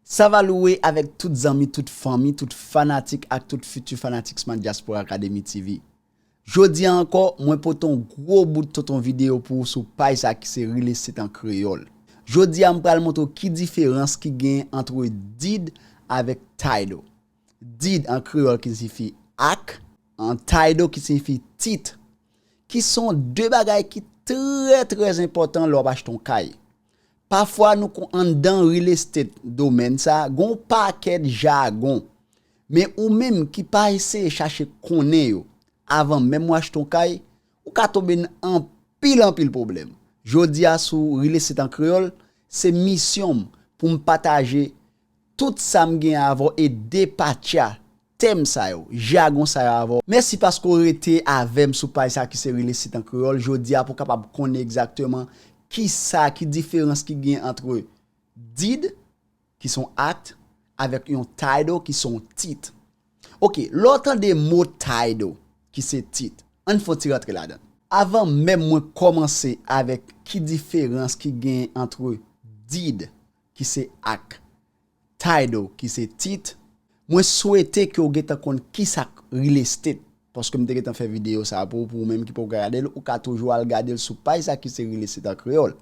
Sa va louwe avèk tout zanmi, tout fanmi, tout fanatik ak tout fiti fanatik Smart Diaspora Academy TV. Jodi a ankò, mwen pote yon gwo bout tonton videyo pou ou sou paj sa ki se Rile Sit an Kreyòl. Jodi a m pral montre w ki diferans ki genyen antre did avèk title. Did an kreyòl ki siyifi ak, an title ki siyifi tit. Ki son 2 bagay ki trè trè enpòtan lè w ap achte yon kay. Pafwa nou kon anndan real estate domèn sa gon pakèt jagon men ou menm ki pa eseye chache konnen yo avan menm ou achte yon kay ou ka tonbe n anpil anpil pwoblèm jodi a sou real estate an kreyòl se misyon m pou m pataje tout sa m gen avè w e depatcha Tèm sa yo, jagon sa yo avè w. Mèsi paske w rete avè m sou paj sa ki se Rele Sit an Kreyòl jodi a pou w kapab konnen egzakteman ki sa, ki diferans ki gen antre did, ki son act, avèk yon title, ki son tit. Ok, lè w tande mo title, ki se tit, an n fè yon ti rantre ladan l. Avan menm mwen kòmanse avèk ki diferans ki gen antre did, ki se act, Title, ki se tit, Mwen swete ke w gentan konn kisa k real estate, paske m te gentan fè videyo sa a pou ou, pou ou menm ki poko gade l, ou ka toujou al gade l sou paj sa a ki se Real Estate en Creole.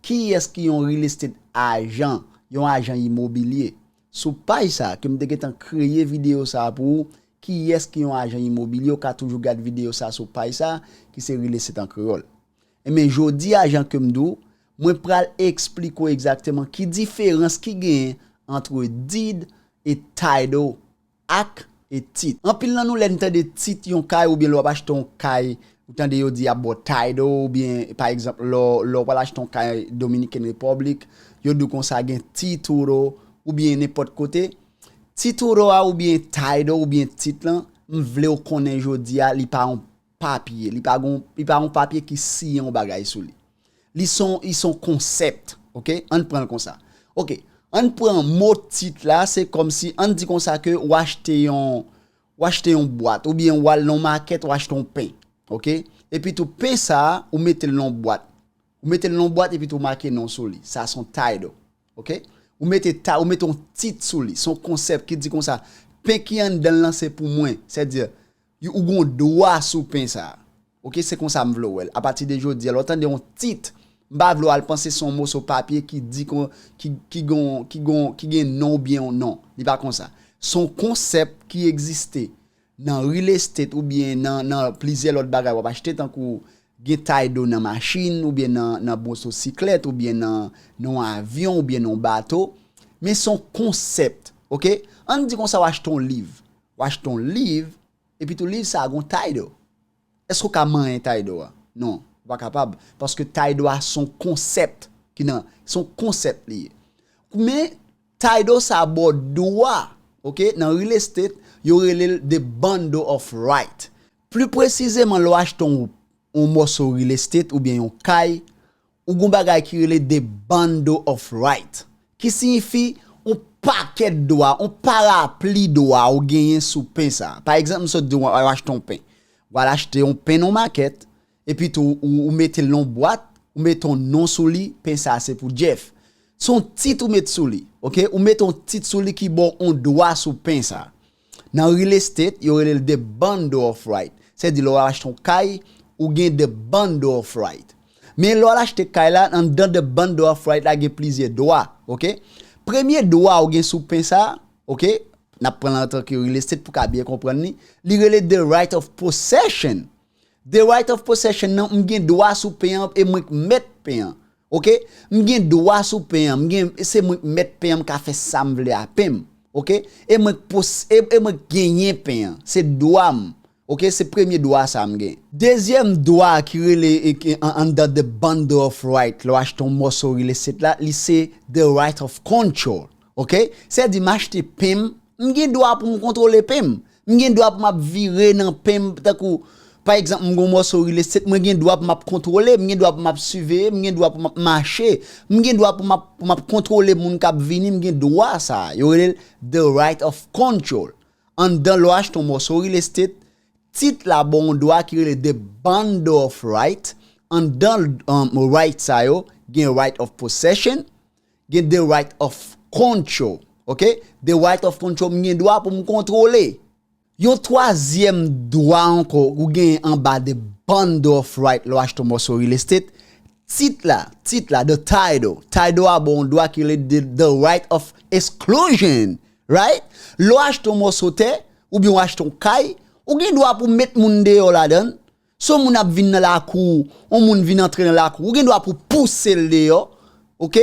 Kiyès ki yon real estate ajan, yon ajan imobilye? Sou paj sa a ke m te gentan kreye videyo sa a pou ou, kiyès ki yon ajan imobilye, ou ka toujou gad videyo sa a sou paj sa a ki se Real Estate en Creole. Enben jodi a jan ke m di w, mwen pral eksplike w egzakteman ki diferans ki genyen antre deed e title, ak e tit. Anpil nan nou lè n tande tit yon kay oubyen lè w ap achte yon kay, ou tande yo di y ap ba w title oubyen pa egzanp lè w pral achte yon kay Dominican Republic, yo di w konsa gen tituro oubyen nenpòt kote. Tituro a oubyen title oubyen tit lan, m vle w konnen jodi a li pa yon papye, li pa gon, li pa yon papye ki siyen yon bagay sou li. Li son, li son konsèpt, ok, ann pran l konsa. Ok, ann pran mo tit la, se kòm si, ann di konsa ke w achte yon, w achte yon bwat, ou byen w al nan yon makèt w achte yon pen, ok, epi tou pen sa a, ou mete l nan yon bwat, ou mete l nan yon bwat epi tou make non sou li, sa son title, ok, ou mete ta, ou mete yon tit sou li, son konsèpt ki di konsa, pen ki anndan l lan se pou mwen, sèdi. Yo ou gon dwa sou pen sa. Ok se konsa m vle w wè l. Apati de jodi a lè w tande yon tit m pa vle w al panse se yon moso papye ki di kon ki gon ki gon ki gen non ou byen non li pa konsa. Se yon konsèp ki egziste nan real estate ou byen nan nan plizyè lòt bagay w ap achte tankou gen tay do nan machin ou byen nan nan moso siklèt ou byen nan nan yon avyon ou byen nan yon bato men se yon konsèpt ok an n di konsa w achte yon liv W achte yon liv, epitou liv sa a gen yon tay do. Èske ou ka manyen tay do a? Non, ou pa kapab, paske tay do a se yon konsèp ki nan, se yon konsèp li ye. Men, tay do sa a bò dwa, ok, nan real estate, yo rele l the bundle of right. Pli presizeman, lè w achte yon mòso real estate oubyen yon kay, Ou gon bagay ki rele the bundle of right ki siyifi on pakèt dwa, on parapli dwa ou genyen sou pen sa. Pa egzanp m sot di w wap al achte on pen. Ou al achte on pen nan on makèt, epi tou ou mete l nan on bwat, ou mete on non sou li, pen sa se pou Jeff. Se on tit ou met sou li, ok. Ou mete on tit sou li ki ba w on dwa sou pen sa. Nan real estate, yo rele l the bundle of right. Se di lè w al achte yon kay, ou gen the bundle of right. Men lè w al achte kay la, anndan the bundle of right la gen plizyè dwa, ok. Premye dwa ou gen sou pen sa, ok, n ap pran l antanke real estate pou w ka byen konprann li, li rele the right of possession. The right of possession nan, m gen dwa sou pen an e mwen k mèt pen an. Ok m gen dwa sou pen an m gen se mwen k mèt pen an m ka fè sam vle a pen m ok e mwen k pos e mwen k genyen pen an se dwa m ok se premye dwa sa m gen. Dezyèm dwa a ki rele under the bundle of right lè w achte yon mòso real estate la li se the right of control ok sè di m achte pen m M gen dwa pou m kontwole pen m. M gen dwa pou m ap vire nan pen m tankou pa egzanp m gen yon mòso rilestet mwen gen dwa pou m ap kontwole, m gen dwa pou m ap siveye, m gen dwa pou m ap mache, m gen dwa pou m ap kontwole moun k ap vini, m gen dwa sa a. Yo rele l the right of control. Anndan lwa achte yon mòso rilestet, tit la ba w yon dwa ki rele the bundle of right, anndan right sa yo gen right of possession, gen the right of control, ok, the right of control m gen dwa pou m kontwole. Yon twazyèm dwa ankò ou genyen anba the bundle of right lè w achte yon mòso real estate, tit la, tit la, the title, title a ba w yon dwa ki rele the right of exclusion, right? Lè w achte yon mòso tè, oubyen w achte yon kay, ou gen dwa pou w met moun deyò ladan l, Si yon moun ap vin nan lakou ou, yon moun vin antre nan lakou ou, ou gen dwa pou pouse l deyò, ok,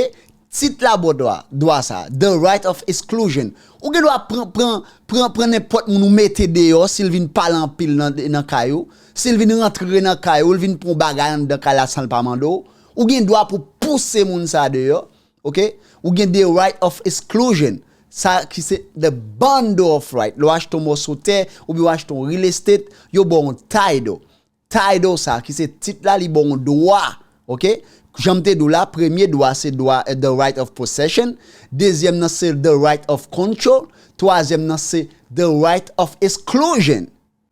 tit labodwa, dwa sa, the right of exclusion, ou gen dwa pran, pran, pran, pran nenpòt moun ou mete deyò si l vin pale anpil nan, nan kay ou, si l vin rantre nan kay ou, l vin pran yon bagay anndan kay la san l pa mande w, ou gen dwa pou pouse moun sa deyò, Ok ou gen de right of exclusion sa ki se the bundle of right lè w achte yon mòso tè oubyen w achte yon real estate yo ba w yon title title sa ki se tit la li ba w yon dwa ok jan m te di w la premye dwa se dwa the right of possession dezyèm nan se the right of control twazyèm nan se the right of exclusion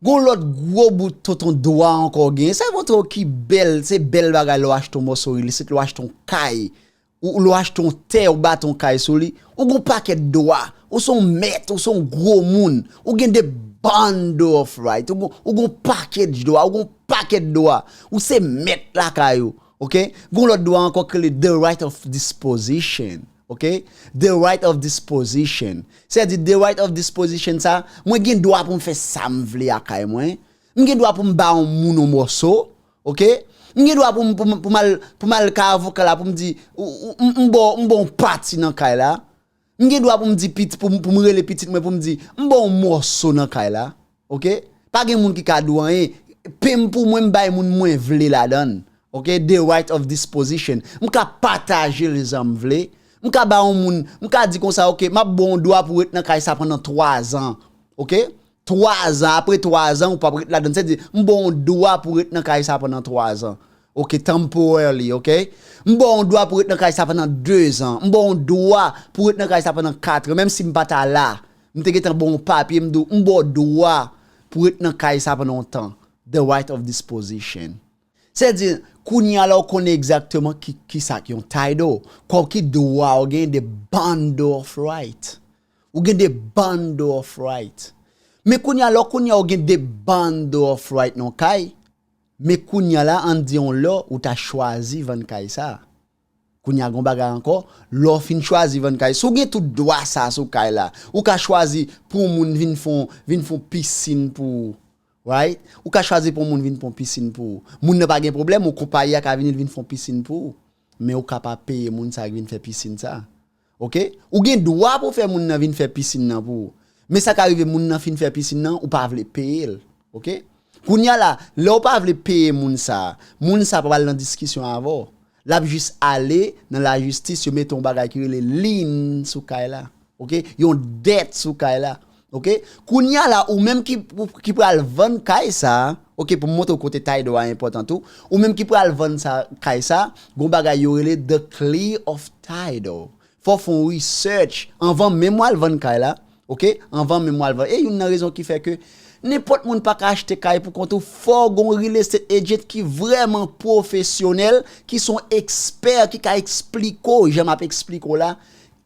Gon lòt gwo bout tonton dwa ankò w genyen, sa yo montre w ki bèl, se bèl bagay lè w achte yon mòso rilisit, lè w achte yon kay, ou lè w achte yon tè, ou bati yon kay sou li, ou gon pakèt dwa, ou son mèt, ou son gwo moun, ou gen de bundle of right, ou gon package dwa, ou gon pakèt dwa, ou se mèt lakay ou, ok. Gon lòt dwa ankò ki rele the right of disposition. Ok, the right of disposition. Sè di the right of disposition sa, mwen gen dwa pou m fè sa m vle a kay mwen. M gen dwa pou m ba yon moun yon mòso. Ok, m gen dwa pou m pou m al pou m al kay avoka la pou m di m ba w m ba w yon pati nan kay la. M gen dwa pou m di pou m pou m rele pitit mwen pou m di m ba w yon mòso nan kay la. Ok pa gen moun ki ka di w anyen pen m pou mwen m bay moun mwen vle ladan ok the right of disposition m ka pataje l jan m vle m ka ba yon moun m ka di konsa ok m ap ba w yon dwa pou w ret nan kay sa pandan 3 zan ok 3 zan apre 3 zan ou p ap ret ladan se di m ba w yon dwa pou w ret nan kay sa pandan 3 zan ok temporarily ok m ba w yon dwa pou w ret nan kay sa pandan 2 zan m ba w yon dwa pou w ret nan kay sa pandan 4 menm si m pa ta la M te gentan ba w yon papye, m di w, m ba w dwa pou w ret nan kay sa pandan yon tan, the right of disposition. Se di, kounye a la w konnen egzakteman ki sa k yon title, kon ki dwa w gen de bundle of right. Ou gen de bundle of right. Men kounye a la w konnen a w gen de bundle of right nan yon kay, men kounye a la an n di yon lè ou ta chwazi vann kay sa a. Kounya gon bagay ankò, lè w fin chwazi vann kay, si w gen tout dwa sa sou kay la, ou ka chwazi pou yon moun vin fè yon, vin fè yon pisin pou ou. Right? Ou ka chwazi pou yon moun vin fè yon pisin pou ou. Moun nan pa gen pwoblèm, ou konpayi a ka vini li vin fè yon pisin pou ou. Men ou ka pa peye moun sa ki vin fè pisin sa. Ok ou gen dwa pou fè moun nan vin fè piscine nan pou ou men sa ka rive moun nan fin fè piscine nan ou pa vle peyel ok kounya la lèw pa vle peye moun sa moun sa pap al nan diskisyon avèw lap jis ale nan la jistis yo mete yon bagay ki rele lien sou kay la ok yon dèt sou kay la Ok kounya la ou menm ki pral vann kay sa ok pou m montre w kote tay do a enpòtan tou ou menm ki pral vann sa kay sa gon bagay yo rele the clear of title fò w fon w research anvan menm w al vann kay la ok anvan menm w al vann e youn nan rezon ki fè ke nenpòt moun pa ka achte kay pou kont ou fò w gon real estate agent ki vrèman pwofesyonèl ki son ekspè ki ka eksplike w jan m ap eksplike w la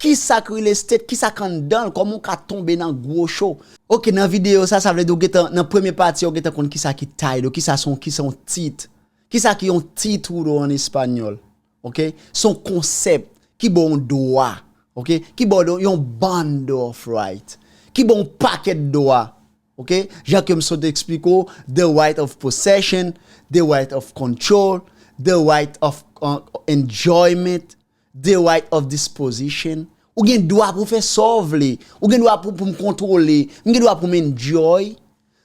Kisak real estate kisak anndanl koman ou ka tonbe nan gwo cho. Ok nan video sa sa vle di ou gentan nan premye pati a ou gentan konn kisa ki title kisa son kisa yon tit kisa ki yon titulo an español ok son concept ki baw yon dwa ok ki baw yon bundle of right ki baw yon pakèt dwa ok jan kem sot esplike w the right of possession the right of control the right of enjoyment The right of disposition, Ou gen dwa pou w fè sa w vle. Ou gen dwa pou m kontwole. M gen dwa pou m enjoy.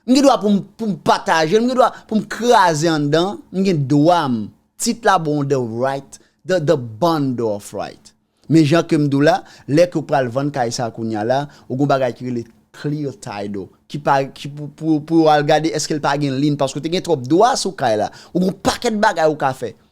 M gen dwa pou m pataje l. M gen dwa pou m kraze anndan. M gen dwa m. Tit la bon The right, the bundle of right. Men jan ke m di w la, lè ke w pral vann kay sa kounye a la, ou gen yon bagay ki rele clear title. Ki pa, ki pou, pou yo al gade èske l pa gen lien paske w te gen twòp dwa sou kay la. Ou gen yon pakèt bagay ou ka fè.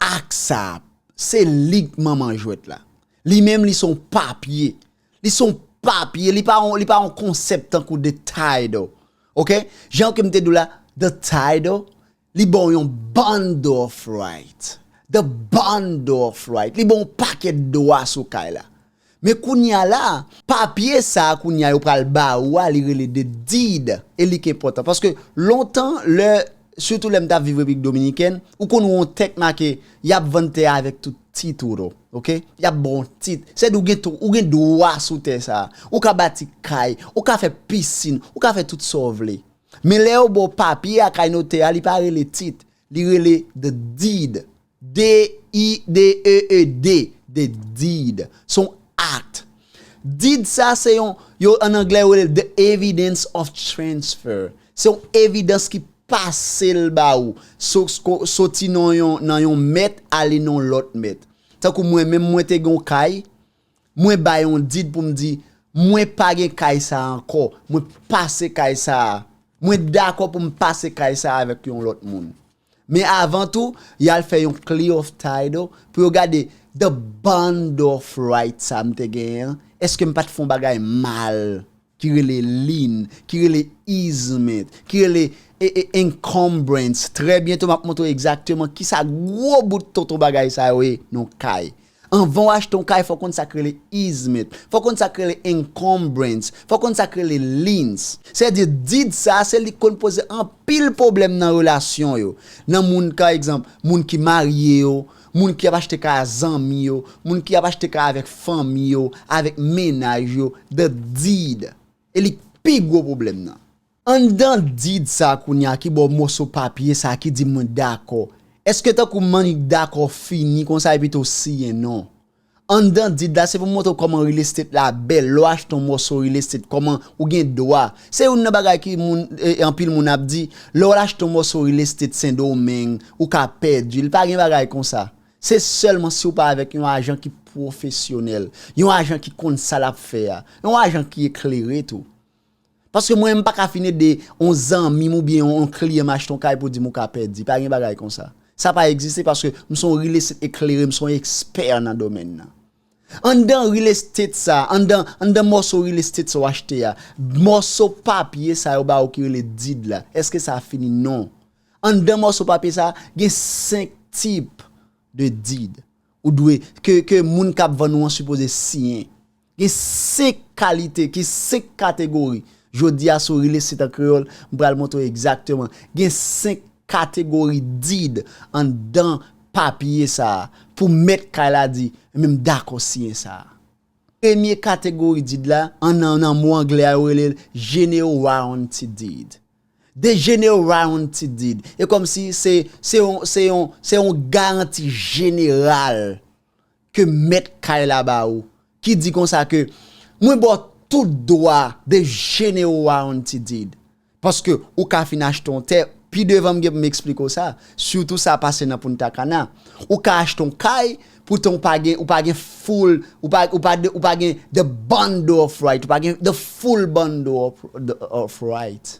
Ak sa, se li k manman jwèt la. Li menm li son papye. Li son papye, li pa yon, li pa yon konsèp tankou the title. Ok? Jan ke m te di w la, the title, li ba w yon bundle of right. The bundle of right. Li ba w yon pakèt dwa sou kay la. Men kounya la, papye sa a kounya yo pral ba ou a li rele the deed e li k enpòtan. Paske lontan lè, sitou lè m t ap viv Repiblik Dominikèn, ou konn wè on tèk make y ap vann tè a avèk tout tituro. Ok? Y ap ba w on tit. Sè di ou gen ou gen dwa sou tè sa a. Ou ka bati kay, ou ka fè pisin, ou ka fè tout sa w vle. Men lè yo ba w papye a kay notè a li pa rele tit, li rele the deed. D-i-d-e-e-d, the deed, se yon act. Deed sa se yon, yo an anglè yo rele l the evidence of transfer. Se yon evidans ki pase l ba ou, soti nan yon nan yon mèt ale nan yon lòt mèt. Tankou mwen menm mwen te gen yon kay, mwen bay yon deed pou m di mwen pa gen kay sa a ankò, mwen pase kay sa a, mwen dakò pou m pase kay sa a avèk yon lòt moun. Men avan tou, y al fè yon clear of title pou yo gade the bond of right sa m te genyen an, èske m pa t fè yon bagay mal ki rele lien, ki rele easement, ki rele encumbrance. Trè byento m ap montre w egzakteman kisa gwo bout tonton bagay sa yo ye nan yon kay. Anvan w achte yon kay fò w konn sa k rele easement, fò w konn sa k rele encumbrance, fò w konn sa k rele liens. Sèdi did sa a se li k konn poze anpil pwoblèm nan relasyon yo, nan moun ka egzanp, moun ki marye yo, moun ki ap achte kay a zanmi yo, moun ki ap achte kay avèk fanmi yo, avèk mennaj yo, the did e li k pi gwo pwoblèm nan. Anndan did sa kounye a ki bò mòso papye sa ki di mwen dakò? Èske tankou mwen dakò fini konsa epi tou siyen non? Anndan did la se pou montre w kòman real estate la bèl lè w achte yon mòso real estate kòman ou gen dwa se youn nan bagay ki moun anpil moun ap di lè w al achte yon mòso real estate sendomeng ou ka pèdi l pa gen bagay konsa se sèlman si w pa avèk yon ajan ki pwofesyonèl yon ajan ki konn sa l ap fè a yon ajan ki eklere tou. Paske mwen m pa ka fin ede yon zanmi m oubyen yon kliyan m achte yon kay pou di m ou ka pèdi. Pa gen bagay konsa. Sa pa egziste paske m son real estate eklere, m son ekspè nan domèn nan. Anndan real estate sa, anndan anndan mòso real estate sa w achte a, mòso papye sa yo ba ou ki rele deed la, èske sa fini? Non. Anndan mòso papye sa, gen 5 tip de deed ou dwe ke ke moun k ap vann ou an sipoze siyen. Gen 5 kalite, gen 5 kategori. Jodi a sou Relay Sit an Kreyòl, m pral montre w egzakteman. Gen 5 kategori did anndan papye sa a pou mèt kay la di, men m dakò siyen sa a. Premye kategori did la, an nan nan mo angle a yo rele l General Warranty Deed. De General Warranty Deed. E kòmsi se yon se yon se yon garanti jeneral ke mèt kay la ba ou, ki di konsa ke, Mwen ba w tout dwa de jene ou a on ti did, paske ou ka fin achte on tè, pi devan m gen pou m eksplike w sa, sitou sa pase nan Punta Cana, ou ka achte on kay, poutan ou pa gen, ou pa gen full, ou pa, ou pa, ou pa gen the bundle of right, ou pa gen the full bundle of, of right.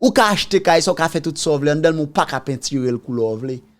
Ou ka achte kay sa, ou ka fè tout sa w vle anndan l men ou pa ka pentire l koulè w vle.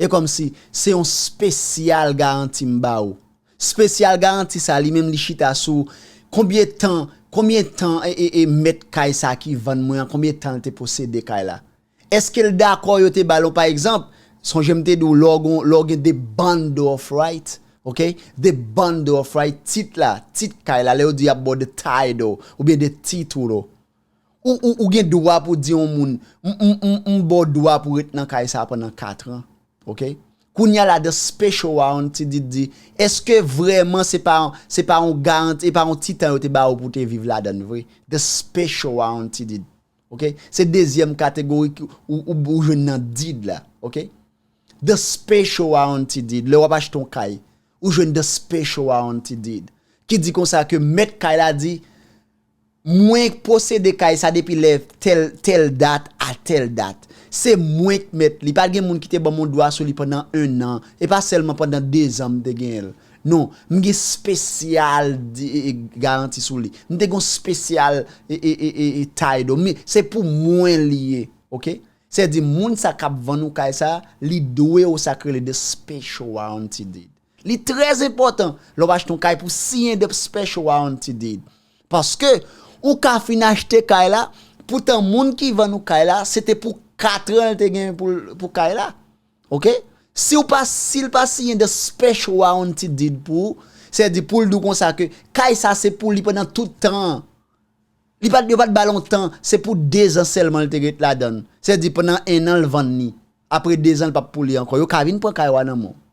E kòmsi, se yon spesyal garanti m ba ou. Spesyal garanti sa li menm li chita sou konbyen tan, konbyen tan e mèt kay sa ki vann mwen an, konbyen tan l te posede kay la. Eske l dakò yo te ba l yon pa egzanp, sonje m te di w lè w gen, lè w gen de bundle of right, ok, de bundle of right, tit la, tit kay la, lè yo di y ap ba w de title, oubyen de titulo. Ou gen dwa pou di yon moun, m ba w dwa pou ret nan kay sa pandan 4 an. Ok? Kounye a la dan special warrant ti di di, eske vreman se pa se pa yon garanti, se pa yon ti tan yo te ba ou pou te viv ladan l vre? Dan special warrant ti di di. Ok? Se dezyèm kategori ki ou jwenn nan did la. Ok? Dan special warrant ti di di, lè w ap achte yon kay, ou jwenn dan special warrant ti di di. Ki di konsa ke mèt kay la di, Mwen k posede kay sa depi lè tèl tèl dat a tèl dat. Se mwen k mèt li. Pa gen moun ki te ban m yon dwa sou li pandan ennan. E pa sèlman pandan dezan m te genyen l. Non. M gen spesyal garanti sou li. M te gen yon spesyal title. Men, se pou mwen li ye. Ok? Sèdi moun sa k ap vann ou kay sa, li dwe ou sa k rele the special warranty deed. Li trè enpòtan lè w achte yon kay pou siyen dep special warranty deed. Paske, ou ka fin achte kay la, poutan moun ki vann ou kay la, se te pou katran l te gen pou kay la. Ok? Si w pa, si l pa siyen the special warranty deed pou ou, se di pou l di w konsa ke kay sa se pou li pandan tout tan an. Li pa, yo pa t ba l yon tan, se pou dezan sèlman l te ret ladan l. Se di pandan ennan l vann li. Apre dezan l pa pou li ankò. Yo ka vin pran kay ou a nan men w.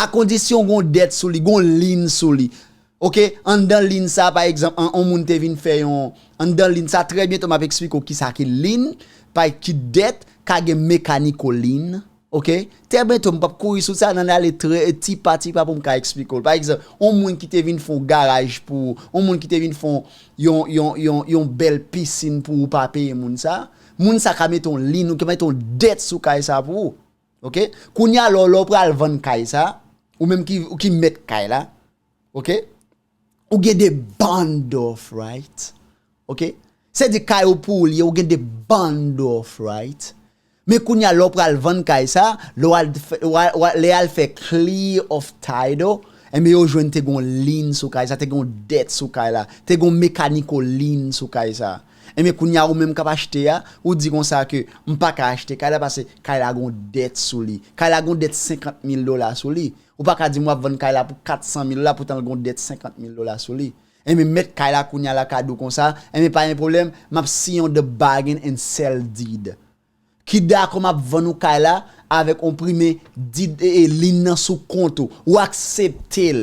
A kondisyon gen yon dèt sou li, gen yon lin sou li. Ok, anndan lin sa a pa egzanp an, yon moun te vin fè yon, anndan lin sa a, trè byento m ap esplike w kisa ki lin, pa ki dèt, ka gen mekaniko lin. Ok, trè byento m p ap kouri sou sa, n ann ale trè, ti pa ti pa pou m ka esplike w. Pa egzanp, yon moun ki te vin fè yon garaj pou ou, yon moun ki te vin fè yon, yon, yon, yon bèl pisin pou ou pa peye moun sa a, moun sa a ka mete yon lin, ou ka mete yon dèt sou kay sa a pou ou. Ok kounye a lè w pral vann kay sa ou menm ki mèt kay la ok ou gen de bond of right ok se di kay ou pou ou li ye ou gen de bond of right men kounye a lè w pral vann kay sa lè w al fè clear of title enben yo jwenn te gen yon lien sou kay sa te gen yon dette sou kay la te gen yon mechanical lien sou kay sa. Enben kounya ou menm kap achte a, ou di konsa ke m pa ka achte kay la pase kay la gon dèt sou li. Kay la gon dèt 50 mil dola sou li. Ou pa ka di m wap vann kay la pou 400 mil dola poutan l gon dèt 50 mil dola sou li. Enben mèt kay la kounya la ka di w konsa, enben pa gen pwoblèm, map siyen yon the bargain and sell deed. Ki dakò map vann ou kay la avèk yon pri men deed e e lien nan sou kont ou. Ou aksepte l.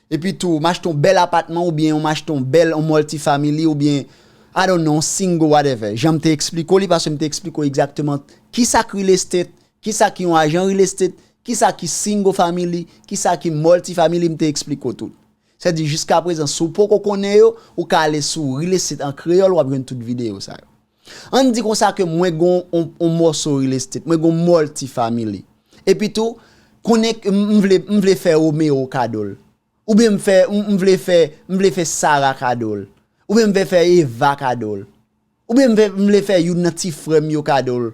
Epi tou, m achte yon bèl apatman oubyen yon m achte yon bèl, yon multi-family oubyen I don't know, yon single whatever. Jan m te eksplike w li paske m te eksplike w egzakteman kisa k real estate, kisa ki yon ajan real estate, kisa ki single family, kisa ki multi-family m te eksplike w tout. Sa di jiskaprezan si w poko konnen yo, ou ka ale sou Real Estate en Creole w ap jwenn tout videyo sa yo. An n di konsa ke mwen gen yon mòso real estate, mwen gen yon multi-family. Epi tou, konnen ke m vle, m vle fè Romeo kado l. Oubyen m fè, m vle fè, m vle fè Sarah kado l. Oubyen m vle fè Eva kado l. Oubyen m vle fè youn nan ti frè m yo kado l.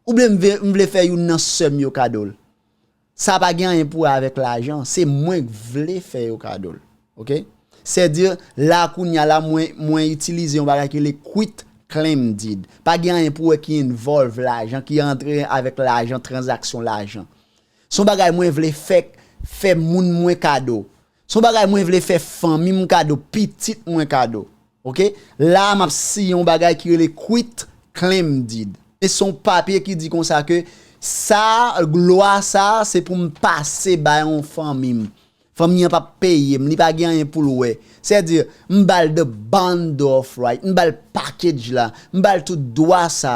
Oubyen m vle fè youn nan sè m yo kado l. Sa pa gen anyen pou wè avèk lajan, se mwen k vle fè yo kado l. Ok. Sèdi, la a kounye a la mwen itilize yon bagay ki rele quit claim deed. Pa gen anyen pou wè ki envolve lajan, ki antre avèk lajan, tranzaksyon lajan. Se yon bagay mwen vle fè moun mwen kado. Son bagay mwen vle fè fanmim kado pitit mwen kado ok la map siyen yon bagay ki rele quit claim deed e son papye ki di konsa ke sa lwa sa se poum pase bay yon fanmim fanmi an pap peyem li pa gen anyen poul wè sè di m bal the bundle of right m bal package la m bal tout dwa sa.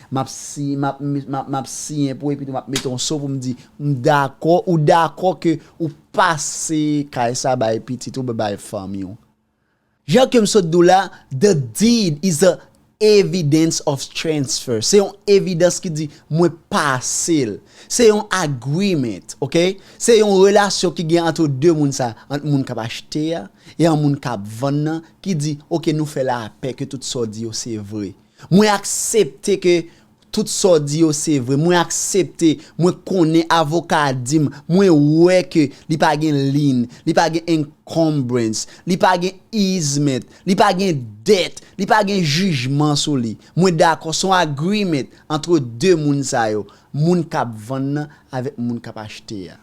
Map siy, map, map, map siyen pou epi tou map mete yon so pou m di m dakò, ou dakò ke ou pase kay sa bay pitit ou oubyen bay fanmi w. Jan ke m sot di w la, the deed is a evidence of transfer. Se yon evidans ki di mwen pase l. Se yon agreement, ok? Se yon relasyon ki gen antre de moun sa, ant moun kap achte a, e an moun kap vann nan, ki di, ok nou fè lapè ke tout sa w di yo se vre. Mwen aksepte ke tout sa w di yo se vre, mwen aksepte, mwen konnen avoka a di m, mwen wè ke li pa gen lien, li pa gen encumbrance, li pa gen easement, li pa gen dette, li pa gen jijman sou li. Mwen dakò, se yon agreement entre 2 moun sa yo, moun k ap vann nan avèk moun k ap achte a.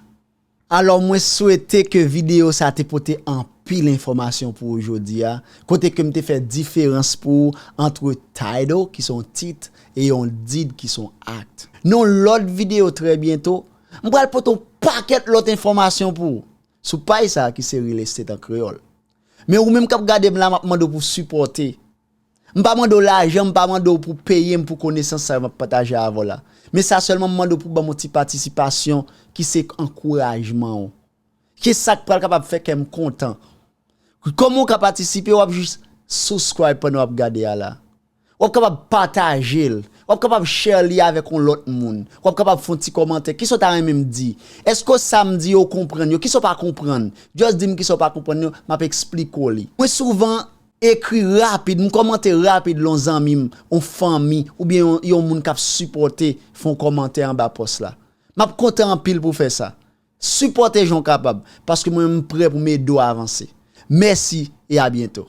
Alò mwen swete ke video sa te pote anpil enfòmasyon pou ou jodi a, kote ke m te fè diferans pou ou antre title ki son tit e yon deed ki son act. Nan yon lòt video trè byento, m pral pote yon pakèt lòt enfòmasyon pou ou, sou paj sa ki se Real Estate an Kreyòl. Men ou menm k ap gade m la m ap mande w pou sipòte. M pa mande w lajan, m pa mande w pou peye m pou konesans sa yo m ap pataje avè w la. Men sa sèlman m mande w pou ban m yon ti patisipasyon ki se ankourajman w. Ke sa k pral kapab fè kè m kontan. Kòman w ka patisipe, w ap jis subscribe pandan w ap gade a la. W ap kapab pataje l. W ap kapab share li avèk yon lòt moun. W ap kapab fè yon ti kòmantè. Kisa w ta renmen m di? Èske sa m di yo w konprann yo? Kisa w pa konprann? Just di m kisa w pa konprann yo, m ap esplike w li. Mwen souvan Ekri rapid, m kòmante rapid lè yon zanmi m, yon fanmi, oubyen yon moun k ap sipòte fè yon kòmantè anba pòs la. M ap kontan anpil pou w fè sa. Sipòte jan w kapab, paske mwen menm m prè pou m ede w avanse. Mèsi e a byento!